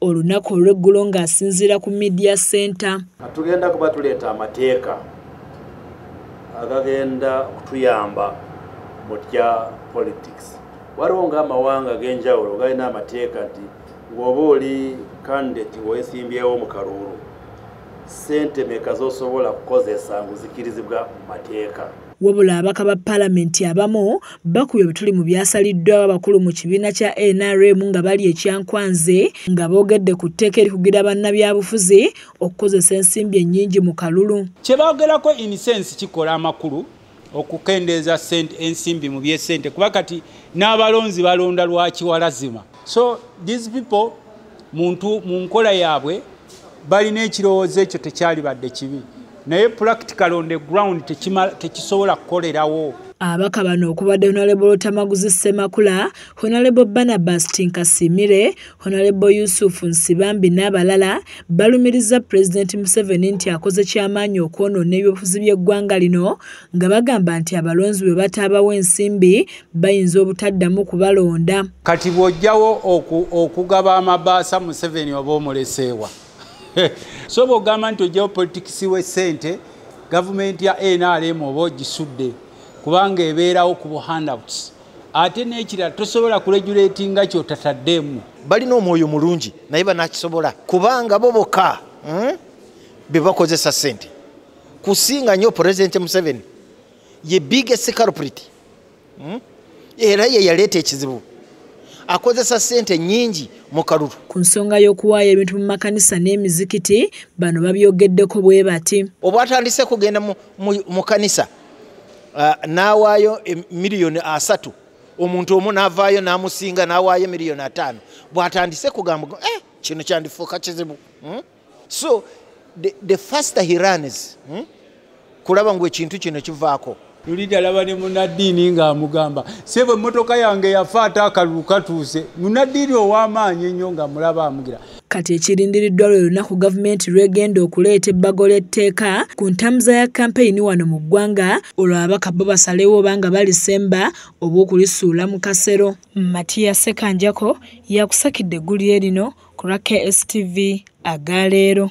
olunaku olw'eggulo ng'asinziira ku media center tugenda kuba tuleeta amateeka agagenda okutuyamba mu tya politics waliwo ng'amawanga ag'enjawulo galina amateeka nti ng'oba oli kandidate ng'oyesimbyewo mu kaluulu sente meka z'osobola kukozesa ng'ozikirizibwa mu mateeka Wabula ababaka ba palamenti abamu bakubye obutuli mu byasaliddwawo abakulu mu kibiina kya nrm nga bali ekyankwanze nga boogedde ku tteeka erikugira bannabyabufuzi okukozesa ensimbi ennyingi mu kalulu kye baagerako inisensi kikola amakulu okukendeeza ensimbi mu byesente kuba kati n'abalonzi balonda lwakiwalazima so these people muntu mu nkola yaabwe balina ekirowoozo ekyo tekyalibadde kibi naye practical on the ground tekisobola kukolerawo abaka bano okubadde honalebo lutamaguzi ssemakula honalebo banabas tinkasimire honalebo yusufu nsibambi n'abalala balumiriza pulezidenti museveni nti akoze ky'amaanyi okwonoona ebyobufuzi by'eggwanga lino nga bagamba nti abalonzi bwe bataabawo ensimbi bayinza obutaddamu kubalonda kati bw'ojjawo okugaba amabaasa museveni oba omuleseewa so bw'ogamba nti ojjawo politikisi w'essente gavumenti ya nrm oba ogisudde kubanga ebeerawo ku buhandouts ate n'ekirala tosobola kuregulatinga kyotataddeemu balina omwoyo mulungi naye banakisobola kubanga bo boka hmm? bebakozesa sente kusinga nyo president museveni ye biggest culprit hmm? era ye yaleeta ekizibu akozesa sente nyingi mu kalulu ku nsonga y'okuwaayo ebintu mu makanisa n'emizikiti bano babyogeddeko bwe bati obwatandise kugenda mu kanisa uh, n'awaayo e, miliyoni asatu omuntu omu n'avaayo n'amusinga n'awaayo miliyoni ataano bwatandise kugamba eh, kino kyandifuuka kizibu hmm? so the, the faster he runs hmm? kulaba ngu ekintu kino kivaako lulida laba ne munaddiini ng'amugamba sebo emmotoka yange yafa ate akalulu katuuse munaddiini ow'amaanyi ennyo ng'amulaba amugira kati ekirindiriddwa lwe lunaku gavumenti lwegenda okuleeta ebbago ly'etteeka ku ntambuza ya kampeyini wano mu ggwanga olwo ababaka bo basalewo oba nga balisemba oba okulisuula mu kasero Matiya Ssekanjako yakusakidde eggulire lino ku lwa KSTV aga leero.